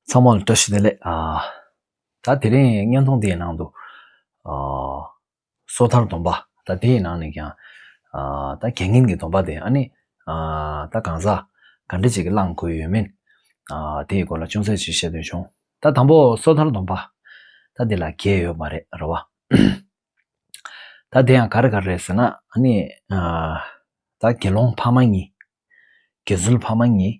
ཚང་མར་བཀྲ་ཤིས་བདེ་ལེགས། ད་དེ་རིང་བརྙན་ཐུང་དེའི་ནང་དུ། སོ་ཐར་སྡོམ་པ། ད་དེའི་ནང་ནས་ཀྱང། ད་དགེ་བསྙེན་གྱི་སྡོམ་པ་དེ་ཨ་ནི། ད་གང་ཟག་ག་འདྲ་ཅིག་གིས་བླང་དགོས་ཡོད་མིན། དེའི་སྐོར་ལ་ཅུང་ཟད་ཅིག་བཤད་འདོད་བྱུང། ད་དང་པོ་སོ་ཐར་སྡོམ་པ། ད་དེ་ལ་གེགས་ཡོད་མ་རེད་རེད་བ། ད་དེ་ཡང་ག་རེ་ག་རེ་ཟེར་ན་ཨ་ནི། ད་དགེ་སློང་ཕ་མ་གཉིས། དགེ་ཚུལ་ཕ་མ་གཉིས།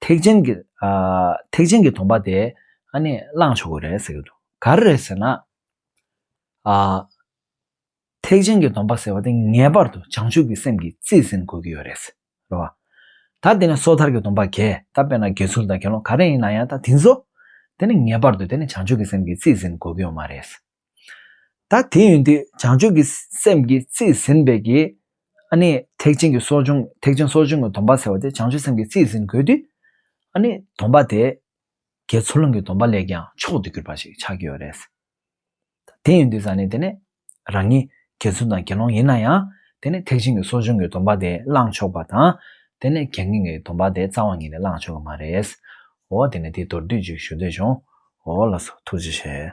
ཐེག་ཆེན་གྱི་ཐེག་ཆེན་གྱི་དོང་པ་དེ་ཨ་ནི་བླངས་ཆོག་གི་རེད་ཟེར་གྱི་འདུག་ག་རེ་རེད་ཟེར་ན། ཨ། ཐེག་ཆེན་གྱི་དོང་པ་ཟེར་བ་དེ་ངེས་པར་དུ་བྱང་ཆུབ་ཀྱི་སེམས་ཀྱི་རྩིས་ཟིན་དགོས་ཀྱི་ཡོད་རེད་ཟེར་བ། ད་དེ་ནི་སོ་ཐར་གྱི་དོང་པ་གས་ད་དཔེར་ན་དགེ་ཚུལ་དང་དགེ་སློང་ག་རེ་ཡིན་ན་ཡང་ད་དེ་ཚོ་དེ་ནི་ངེས་པར་དུ་དེ་ནི་བྱང་ཆུབ་ཀྱི་སེམས་ཀྱི་རྩིས་ཟིན་དགོས་ཀྱི་ཡོད་མ་རེད་ཟེར། ད་དེ་ཡོད་དུས་བྱང་ཆུབ་ཀྱི་སེམས་ཀྱི་རྩིས་ཟིན་པའི་གི། ཨ་ནི་ཐེག་ཆེན་གྱི་སོགས་ཆུང་ཐེག་ཆེན་སོགས་ཆུང་གི་སྡོམ་པ་ཟེར་བ་དེ་བྱང་ཆུབ་སེམས་ཀྱི་རྩིས་ཟིན་དགོས་དུས། ཨ་ནི་སྡོམ་པ་དེ། དགེ་ཚུལ་སློང་གི་སྡོམ་པ་ལས་ཀྱང་མཆོག་ཏུ་གྱུར་པ་ཞིག་ཆགས་ཀྱི་ཡོད་རེད། ད་དེ་ཡོད་དུས་ས་ནི་དེ་ནི་རང་ཉིད་དགེ་ཚུལ་དང་དགེ་སློང་ཡིན་ན་ཡང་དེ་ནི་ཐེག་ཆེན་གྱི་སོགས་ཆུང་གི་སྡོམ་པ་དེ་བླངས་ཆོག་པ་དང། དེ་ནི་དགེ་བསྙེན་གྱི་སྡོམ་པ་དེ་རྩ་བ་ཉིད་ནས་བླངས་ཆོག་གི་མ་རེད། འོ་དེ་ནི་དེའི་མདོར་བསྡུས་ཅིག་ཞུ་འདོད་བྱུང། འོ་ལགས་སོ་ཐུགས་རྗེ་ཆེ།